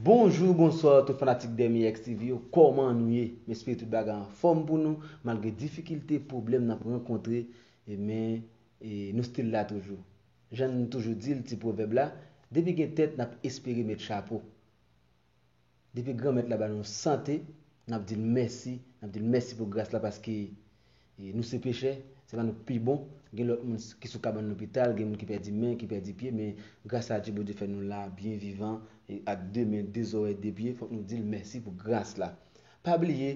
Bonjour bonsoir tout fanatik Dermiex TV yo kòman nou ye m espere tout bagay anfòm pou nou malgre difikilte pwoblèm nap rankontre men nou stil la toujou jan nou toujou dil ti pwovèb la depi gen tèt nap espere met chapo depi granmèt la ba nou sante nap dil mèsi nap dil mèsi pou gras la paske Nou se pechè, se pa nou k pi bon, gen lòt moun ki sou kabann lopital, gen moun ki pèdi men, ki pèdi pye, men gras a Dye Bondye fè nou la, byen vivan, ak de men, de zòrèy, de pye, fòk nou di l mèsi pou gras la. Pa bliye,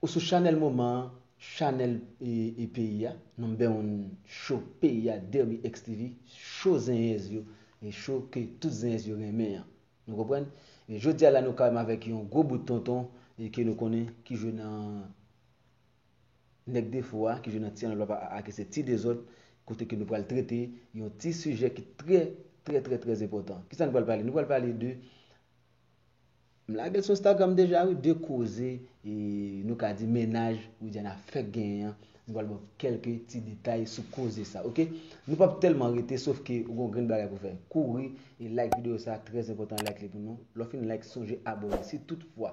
ou sou chanèl moman an, chanèl peyi a, number one show peyi a Derby X TV, show zenyèz yo, show ke tout zenyèz yo renmen an. Nou konprann? Jodi a la nou kay m avèk yon gwo bout tonton ke nou konnen ki jwe nan Nèg defo a ki jwe nan ti anlòp a a ki se ti dezòd kote ke nou pral trete yon ti sijè ki trè trè trè trè enpòtan. Kisa nou pral pale? Nou pral pale de M lagel sou Instagram deja wi de koze nou ka di mennaj Widiana fèk genyen an. Nou pral baw kelke ti detay sou koze sa ok. Nou pap tèlman rete sof ke ou gen yon grenn bagay pou fè. Kouri e like videyo sa trè enpòtan like li pou nou. Lè w fin like sonje abòne si tout fwa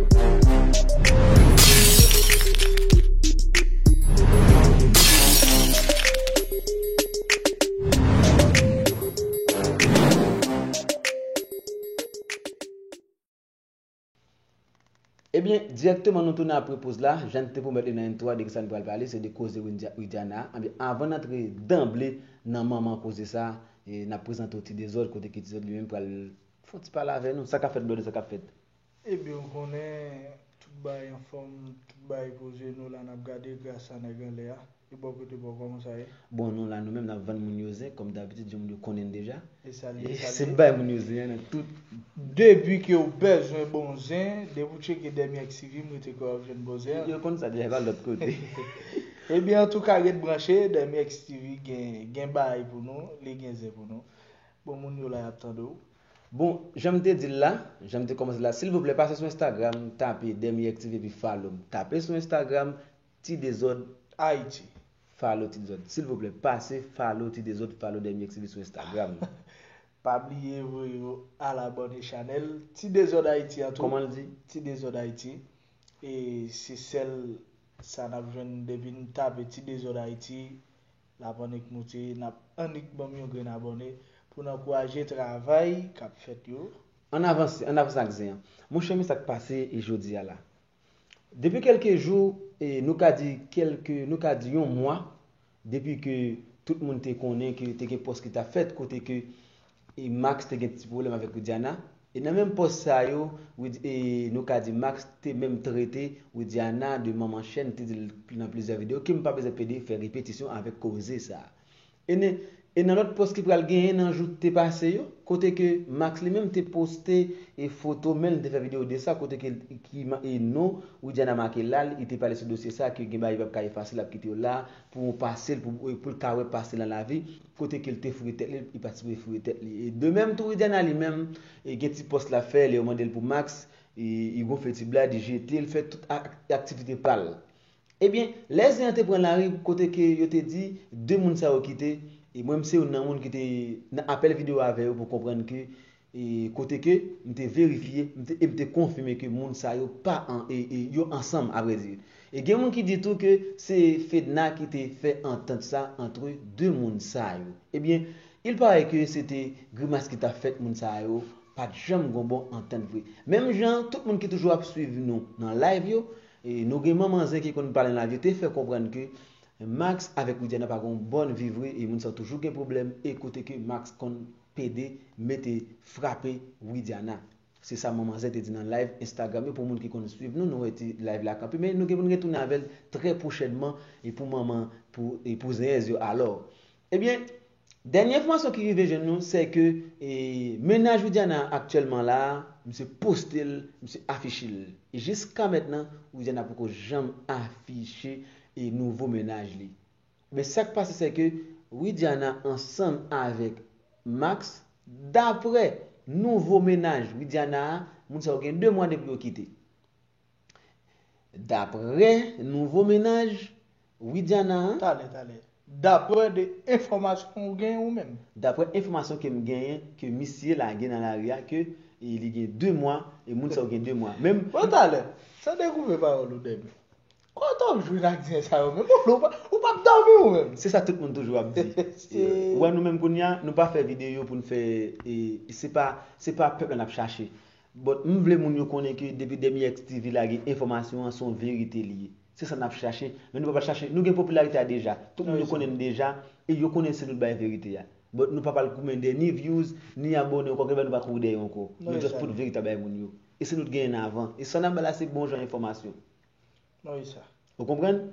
Ebyen, dirèkteman nou tounen apre poz la, jan n te pwomèt li nan entwo a, de ki sa n pral pale, se de koze Windy ak Widiana a. Ebyen, avan n antre danble nan manman koze sa, n ap prezante w Ti Dezòd, kote ke Ti Dezòd li menm pral fè yon ti pale avè nou. Sa k ap fèt, blòdè, sa k ap fèt? Ebyen ou konnen tout bagay anfòm tout bagay poze nou la nap gade gras a nèg anlè a e bò kote paw kòman sa ye? Bon nou la nou menm nap vann moun yo zen kòm dabitid jan moun yo konnen n deja e se n bay moun yo zen an nan tout Depi kew bezwen bon zen depi ou tcheke dèmyè ksivi m rete kwè wap jwenn bon zen an. Yo konn sa deja epa lòt kote. Ebyen antouka ret branche dèmyè ksivi gen gen bagay pou nou li gen zen pou nou bon moun yo la yap tande w. Bon janm te dil la, janm te kòmanse la silvouplè pase sou Instagram tape Dermyectv epi follow m tape sou Instagram ti dezòd Haïti follow ti dezòd silvouplè pase follow ti dezòd follow Dermyectv sou Instagram nan. Pa bliye voye yo al abòne chanèl ti dezòd Haïti an tou. Kòman l di? Ti dezòd Haïti e se sèl sa nap jwenn depi n tape ti dezòd Haïti Lap annik moute nap annik banm yon grenn abòne pou n ankouraje travay kap fèt yo. Ann avanse ann avanse ak zen an. Monchè men sak pase jodia la. Depi kelke jou nou ka di kelke nou ka di yon mwa depi ke tout moun te konnen ke te gen pòs ki tap fèt kote ke e Max te gen ti pwoblèm avèk Widiana e nan menm pòs sa yo Wid e nou ka di Max te menm trete Widiana de manman chen li te di l nan plizyè videyo ke m pa bezwen pede fè repetisyon avèk koze sa e ne e nan lòt pòs ki pral genyen nan jou te pase yo kote ke Max li menm te poste e foto menl li te fè videyo de sa kote ke ki e non Widiana make la li te pale sou dosye sa ke gen bagay li pap ka efase l ap kite yo la pou yon pase l pou pou l ka wè pase l nan lavi kote ke l te foure tèt li, li pa t sipoze foure tèt li. E de menm tou Widiana li menm, e gen ti pòs l ap fè, lè yo mande l pou Max, li gonfle tib la, li jete, li fè tout aktivite pa l. Ebyen, lè zen an te pran lari kote ke yo te di 2 moun sa yo kite, e mwen m se youn nan moun ki te nan apèl video avè yo pou konprann ke e kote ke m te verifye m te e m te konfime ke moun sa yo pa an e e yo ansanm avrèdi e gen moun ki di tou ke se Fedna ki te fè antant sa antre 2 moun sa yo ebyen il parait ke se te grimas ki tap fèt moun sa yo pat janm gon bon antant vre menm jan tout moun ki toujou ap swiv nou nan live yo e nou gen manman zen ki konn pale nan live yo te fè konprann ke Max avèk Widiana pa gon bon vi vre e moun sa yo toujou gen pwoblèm e kote ke Max konn Pede mete frape widiana. Se sa manmanzè te di nan live Instagram yo pou moun ki konn swiv nou nou wè ti live la kanpe men nou gen pou nou retounen avèl trè pwochènman e pou manman pou e pou zenyèz yo alò ebyen dènye enfòmasyon ki rive jwenn nou sè ke e mennaj Widiana a aktyèlman la a misye poste l misye afiche l e jiskamètnan Widiana poko janm afiche e nouvo mennaj li Men sak pase se ke Widiana ansanm avèk Max daprè nouvo mennaj Widiana a, moun sa yo gen 2 mwa depi yo kite. Daprè nouvo mennaj Widiana a. Talè talè. Daprè de enfòmasyon ou genyen ou menm. Daprè enfòmasyon ke m genyen ke misye lage nan lari a ke li gen 2 mwa e moun sa yo gen 2 mwa. Menm. Bon talè. Sa dekouvè pawòl ou dèm yo. Kote wap jwenn adyen sa yo menm? Bon ou pap domi ou menm? Se sa tout moun toujou ap di. Ou wè nou menm kounya nou pa fè video poun fè se pa se pa pèp la nap chache but m vle moun yo konnen ke depi Demirex TV lage enfòmasyon an son verite li ye. Se sa nap chache men nou pa pral chache nou gen popilarite a deja tout moun yo konnen n deja e yo konnen se nou k bay verite a but nou pa pral goumen de ni views ni abòne ankò kidonk nou pa kouri dèyè yo ankò nou just pot verite a bay moun yo e se nou t genyen n avan e sa nap bay la se bon jan enfòmasyon. Ou konprann?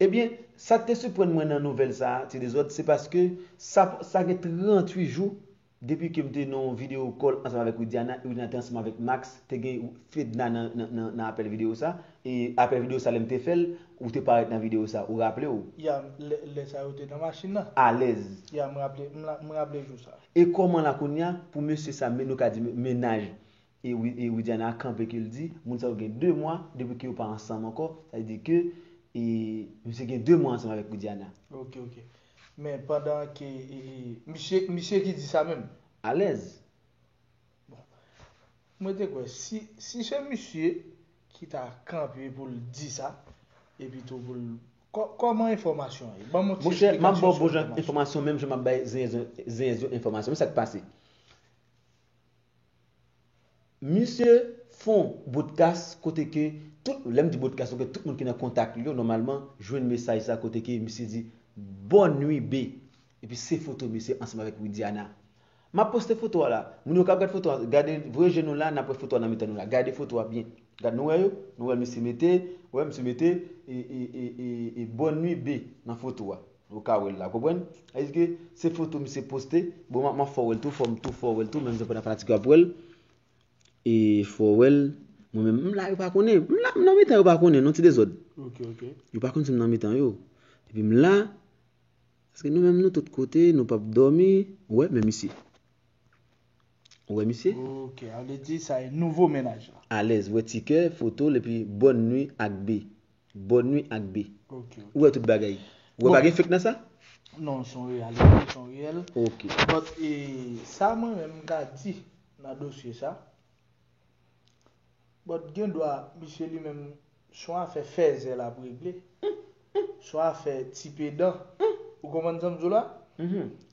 Ebyen, sa k te siprann mwen nan nouvèl sa a, ti dezòd, se paske sa gen 38 jou depi ke m te nan yon videyo kòl ansanm avèk Widiana e Widiana te ansanm avèk Maks, te gen Fedna nan apèl videyo sa a, e apèl videyo sa a lè m te fè l, ou te parèt nan videyo sa a, ou raple w? Ya, lè sa a yo te nan machin nan. Alèz. Ya, m raple, m raple jou sa a. E kòman la kounya pou mesye sa a, nou ka di mennaj E Widiana kanpe ke l di moun sa yo gen 2 mwa depi ke yo pa ansanm ankò, sa vle di ke e misye gen 2 mwa ansanm avèk Widiana. Ok ok. Men pandan ke e misye misye ki di sa menm? Alèz. Bon. Mwen te kwè si si se misye ki ta kanpe pou l di sa, epi tou pou l kò kòman enfòmasyon an ye? Ban mwen ti Monchè, m ap esplikasyon ba w sou bon jan enfòmasyon. enfòmasyon menm jan m ap bay zenyèz yo zenyèz yo enfòmasyon. Men sa k pase. Misye fon bodkas kote ke tout, lèm di bodkas se ke tout moun ki nan kontak li yo nòmalman jwenn mesaj sa kote ke misye di Bon nuit be epi se foto misye ansanm avèk Widiana. Map poste foto a la, moun yo kap gad foto a, gade voye je nou la nap wè foto a nan mitan nou la, gade foto a byen. Gad nou wè yo? Nou wè misye mete, wè misye mete e e e e Bon nuit be nan foto a. Ou ka wèl la konprann. Eske se foto misye poste? Bon map map fè w wèl tou, fòm tou fè w wèl tou, menm jan pandan fanatik yo ap wèl. E fè w wèl. Mwen menm m la yo pa konnen. M la m nan mitan yo pa konnen non ti dezòd. Ok ok. Yo pa konn si m nan mitan yo. Epi m la. Eske nou menm nou tout kote, nou pap dòmi. Wè menm isi. Wè misye? Ok, a vle di sa e nouvo mennaj la. Alèz, wè ti kè, foto l epi bòn nwi ak bi. Bonne nuit Akbe. Ou wè tout bagay. Ou wè pa gen fake nan sa? Non, son reyalite, son reyèl. Ok. But e sa mwen menm m ka di nan dosye sa, but gen dwa misye li menm son afè fèzè l ap regle, son afè ti pedan, ou konprann sa m di w la?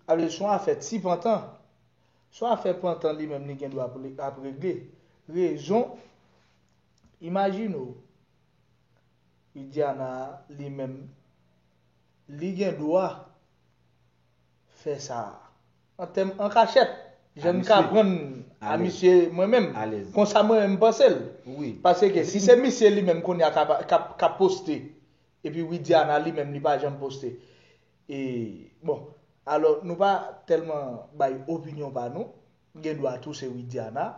Alwe son afè ti pantan, son afè pantan li menm li gen dwa ap regle. Rezon, imajine w. Widiana li menm li gen dwa fè sa a. An tèm an kachèt, jan n ka aprann a misye mwen menm, konsa mwen menm m panse l. Paske si se misye li menm kounye a k ap poste epi Widiana li menm li pa janm poste e bon alò nou pa tèlman bay opinyon pa nou, gen dwa tou se Widiana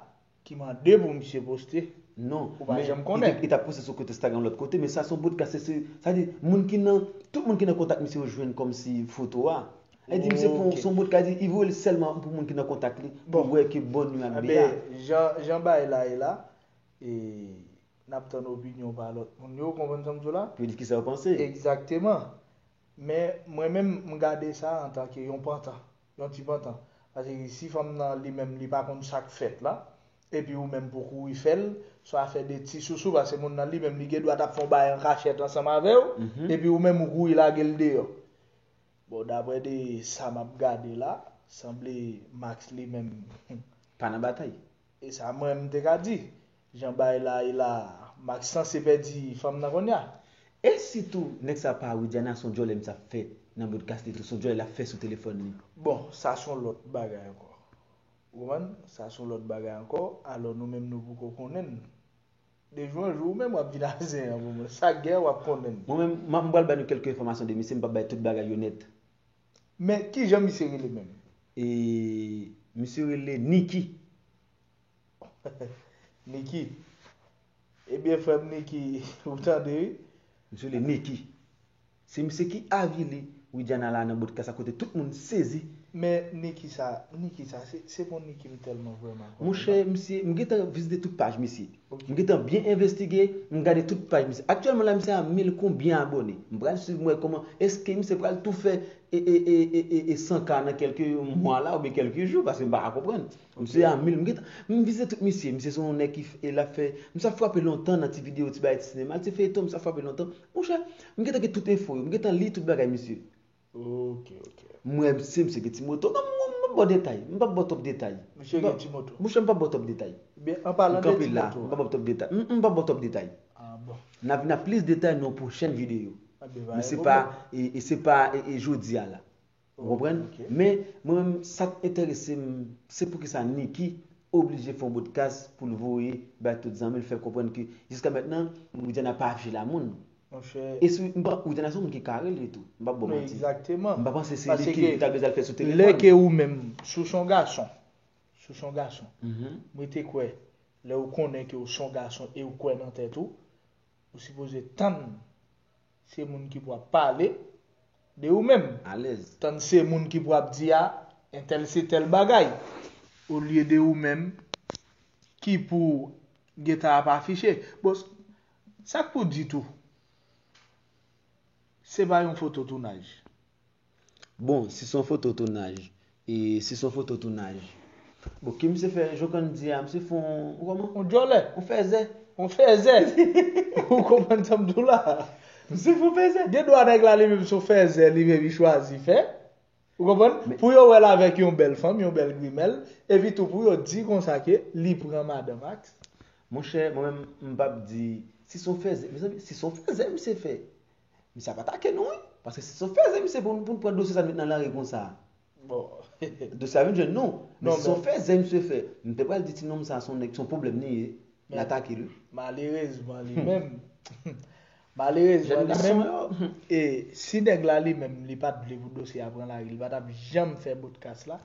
Ki mande pou misye poste. Non. Ou pa janm konnen. Li tap poste sou kont Instagram lòt kote men sa son podcast se se sa vle di moun ki nan tout moun ki nan kontak misye yo jwenn kòmsi foto a. Sa vle di misye fon son podcast li li voyel sèlman pou moun ki nan kontak li pou wè ke bon nou ap be a. Bon jan jan bagay la ye la e nap tann opinyon pa lòt moun yo ou konprann sa m di w la. Pou yo di kisa yo panse. Egzakteman. Men, mwen menm, m gade sa antan ke yon pantan. Yon ti pantan. Paske si fanm nan li menm li pa konn sa k fèt la, epi ou menm pou kouri fè l, sou afè de ti sousou, paske moun nan li menm li gen dwa t ap fè yon bagay an kachèt ansanm avè w, epi ou menm ou kouri lage l deyò. Bon, daprè de sa m ap gade la, sanble Max li menm. Pa nan batay. E sa mwen m te ka di. Jan baay la ye la a. Max sanse pèdi fanm nan konnya. E si tou nèg sa pa widiana son djòlè misye ap fè nan modcast li tou son djòlè lap fè sou telefòn li. Bon sa son lòt bagay ankò ou konprann sa son lòt bagay ankò alò nou menm nou poko konnenn de jou an jou ou menm wap vin a zen an pou mwen sak gen an wap konnenn. Mwen menm m pral bay nou kèlke enfòmasyon de misye m pap bay tout bagay yo nèt. Men kijan misye rele menm? E misye rele Nicky. Nicky. Ebyen frèm Nicky ou tande wi. Misye rele Nicky. Se misye ki avili Widiana la nan bout kè sa kote tout moun sezi. Men Nicky sa, Nicky sa, se bon Nicky m tèlman vrèman konnen non. Monchè misye, m gentan vizite tout paj misye. M gentan byen envestige, m gade tout paj misye. Aktyèlman la misye a mil konbyen abòne. M pral swiv m wè kòman, eske misye pral tou fè 100 k nan kèlke mwa la oubyen kèlke jou paske m paka konprann. Misye a mil, m gentan, m vizite tout misye. Misye se yon nèg ki e lap fè, misye ap frape lontan nan ti videyo, ti bagay, ti sinema, ti feyton misye ap frape lontan. Monchè, m gentan gen tout enfo yo, m gentan li tout bagay misye. Ok ok. M wè msye msye gen ti moto. Non m pap baw detay. M pap baw twòp detay. Msye gen ti moto. Mouche m pap baw twòp detay. Ebyen an palan de ti moto. M kanpe la, m pap baw twòp detay. M pap baw twòp detay. Ah bon. Nap vin ak plis detay nan yon pwochèn videyo. Ebyen va gen pwoblèm. Men se pa e jodi a la. Ou konprann? Ok. Men mwen menm sak enterese m se poukisa Niki oblije fè yon podcast poul voye bay tout zanmil fè konprann ke jiska mètnan Widiana pa afije la moun. Monchè. E si m pa ou te nan son moun ki kare li tou. M pap ba w manti. Egzakteman. M pa panse se li ki ta bezwen al fè sou telefòn. Lè ke ou menm si w son gason, si w son gason, m rete kwè lè ou konnen ke ou son gason e ou kwè nan tèt ou, ou sipoze tann se moun ki pou ap pale de ou menm. Alèz. Tann se moun ki pou ap di a entèl se tèl bagay olye de ou menm ki pou gentan ap afiche. Bon Sak pou di tou. Se pa yon foto tounaj. Bon si son foto tounaj. E si son foto tounaj. Bon ki misye fè jan w konn di a misye fè yon ou koman. Yon djòlè. Yon fèzè. Yon fèzè. Ou konprann sa m di w la. Misye fè yon fèzè. Gen dwa nèg la li menm son fèzè li menm li chwazi fè. Ou konprann? Pou yo wè l avèk yon bèl fanm, yon bèl grimèl, epi tou pou yo di konsa ke li pran madan Maks. Monchè, mwen menm, m pa p di, si s on fèzè, mezanmi, si s on fèzè misye fè, misye ap atake nou wi, paske si s on fèzè misye pou n pran dosye sa n met nan lari konsa, dosye a vin jwenn nou, men si s on fèzè misye fè, m te pral di ti nonm sa s on nèg, s on pwoblèm li ye, l atake l wi. Malerezman li menm. Malerezman li menm, e si nèg la li menm li pat vle pou dosye a pran lari li pa tap janm fè podcast la.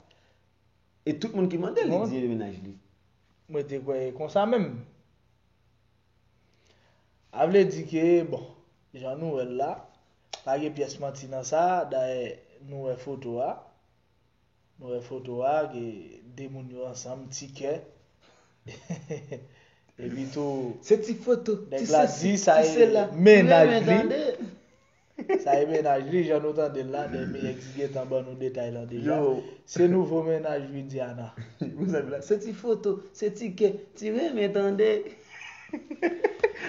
E tout moun ki mandel li di e mennaj li. Mwen te kwè e konsa menm. A vle di ke bon, jan nou wèl la, pa gen pyès manti nan sa, dayè nou wè foto a. Mwen wè foto a ge 2 moun yo ansanm ti kè epi tou Se ti foto, ti sesi, ti sela. Mwen renmen tande. Sa e mennaj li jan nou tandel la men ex li gentan ban nou detay lan deja. Se nouvo mennaj Widiana. Se ti foto, se ti kè, ti renmen tande.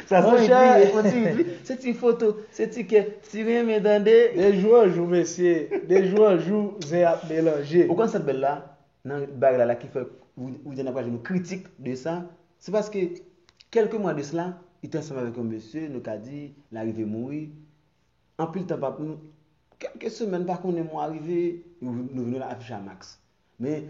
Sa se chè. Se ti foto, se ti kè, ti renmen tande. De jou an jou mesye, de jou an jou zen ap melanje. Ou konn sa k bèl la, nan bagay la la ki fè Widiana pral jwenn kritik de sa, se paske kèlke mwa de sla, li te ansanm avèk yon mesye, nou ka di, l arive mouri, anpil tan pa kèlke semèn pa konnen mwa rive, nou vin wè l ap afiche a Max. Men,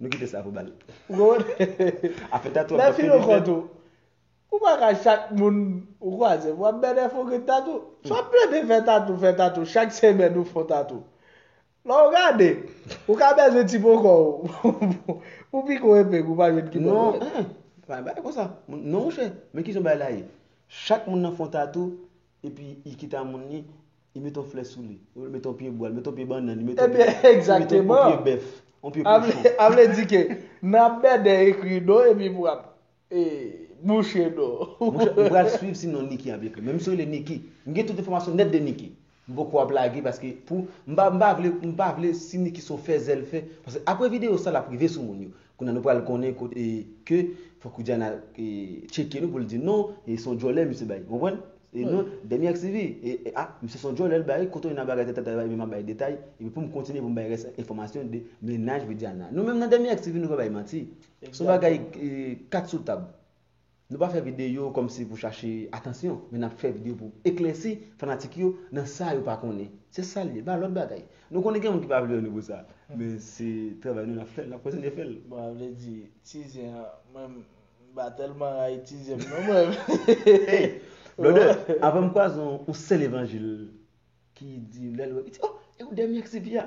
Nou kite sa pou bal. Ou konprann? Afè tatou ap Mèfin ou konn tou. Ou pa ka chak moun ou kwaze pou ap bèdè fon grenn tatou. Si wap plede fè tatou, fè tatou chak semèn ou fon tatou. Lè ou gade, ou ka bezwen ti pokò ou pou piko epe kou pa jwenn ki bò Non, ee, pa gen bagay konsa. Non monchè, men kijan bagay la ye. Chak moun nan fon tatou epi li kita moun li Li mete yon flè sou li. Li mete yon pye bwa, li mete yon pye bannann, li mete yon pye bèf, yon pye kochon. A vle di ke nan ap mède ekri non epi pou ap bouche non. Monchè, ou pral swiv si non Niki ap ekri. Men m sou rele Niki. M gen tout enfòmasyon nèt de Niki. M poko ap lage paske pou, m pa vle, m pa vle si Niki son fèzè l fè. Paske apre videyo sa l ap rive sou moun yo. Kounya nou pral konnen kote ke fòk Widiana tcheke nou pou l di non e son djòlè misye bay. Ou konprann? E non, dènye ak Sivi. E a, misye son djòlè l bay, kote w nan bagay tèt atay epi m ap bay detay, epi pou m kontinye pou m bay rès enfòmasyon de mennaj Widiana. Nou menm nan dènye ak Sivi nou pa bay manti. Son bagay kat sou tab. Nou pa fè videyo kòmsi pou chache atansyon, men nap fè videyo pou eklèsi fanatik yo nan sa yo pa konnen. Se sa l ye, pa lòt bagay. Nou konnen gen moun ki pa vle wè nou pou sa, men se travay nou nap fè l, nap kontinye fè l. Bon a vle di ti zen an mwen m pa tèlman rayi ti zen m non mwen Hey! Blòdè, avan m kwaze yon sè levanjil ki di lè l wè piti, oh! e ou dèyè m yak Sylvia?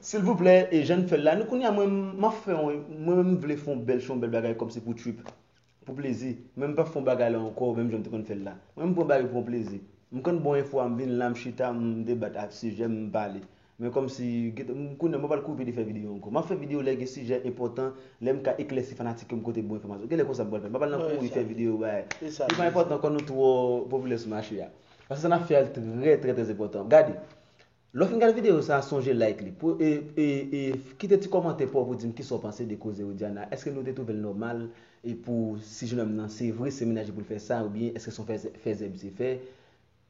Silvouplè e jann fèl la nou kounya mwen map fè yon mwen menm vle fon bèl fon bèl bagay kòmsi pou trip pou plezi mwen mpa fon bagay la ankò menm janm t konn fèl la mwen mpran bagay pou yon plezi mkonn bon enfo a mvin la mchita mdebat ak sijè m mpale men kòmsi gete kounya mwen pral koupe de fè video ankò map fè video lè gen sijè enpòtan lè mka eklèsi fanatik yo m kote bon enfòmasyon genlè konsa mpral fèl mpa pral nan kouri fè video bay li pa enpòtan ankò nou twò popilè sou mache a pase sa nap fè a trè trè trè enpòtan gade Lè w fin gad videyo sa sonje like li pou e e e kite ti kòmantè pa w pou di m kisa w panse de koze Widiana èske nou te twouve l nòmal e pou si jèn òm nan se vre se mennaj li pou l fè sa oubyen èske se yon fè fèzè misye fè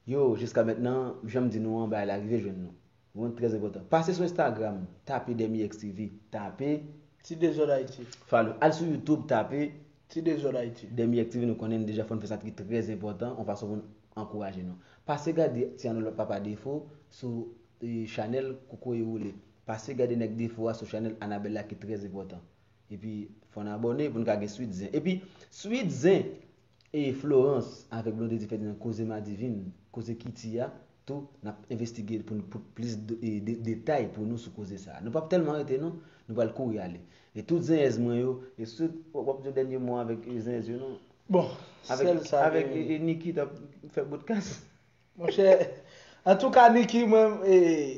yo jiska mentnan jan m di nou an bagay la rive jwenn nou mwen trè enpòtan pase sou Instagram tape Demy X TV tape Ti dezòd Ayiti. Follow al sou YouTube tape Ti dezòd Ayiti. Dèmièk TV nou konnen deja fò n fè sa ki trè enpòtan yon fason pou n ankouraje nou. Pase gade Ti Anolo Papa Defo sou chanèl Kokoye Woule. Pase gade Nèg Defo a sou chanèl Anabèl la ki trè enpòtan. Epi fò n abòne pou n ka gen swit zen. Epi swit zen Florans avèk Blondedy Ferdinand Koze Madivin, Koze Kiti a tou nap envestige pou nou pote plis detay pou nou sou koze sa. Nou pap tèlman rete non, nou pral kouri ale. E tout zenyèz mwen yo. E sot wap di yon dènye mo avèk zenyèz yo non. Bon, sèl sa. Avèk Niki tap fè botkas. Monchè, antouka Niki mwen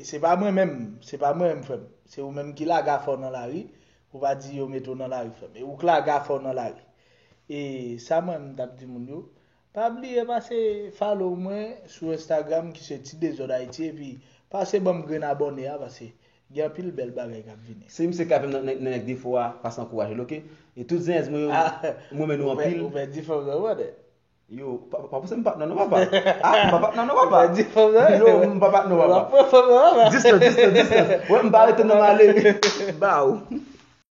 se pa mwen menm, se pa mwen menm frèm. Se ou menm ki lage afè w nan lari, ou pa di yo mete w nan lari frèm. E ou k lage afè w nan lari. E sa mwen menm tap di moun yo, Pa bliye pase follow mwen sou Instagram ki se ti dezod Haiti epi pase banm grenn abone a pase gen anpil bel bagay kap vini. Si misye kapem nan nan nèg defo a pase ankourajel ok e tout zenyèz mwen yo m renmen nou anpil. Ou pèdi fanm nan wi. Yo pa panse m patnè w non papa ah m pa patnè w non papa. Ou pèdi fanm nan wi. Yo m pa patnè w papa. Wap pran fanm nan papa. Distance distance distance wè m pa rete nan m ale wi. Baww.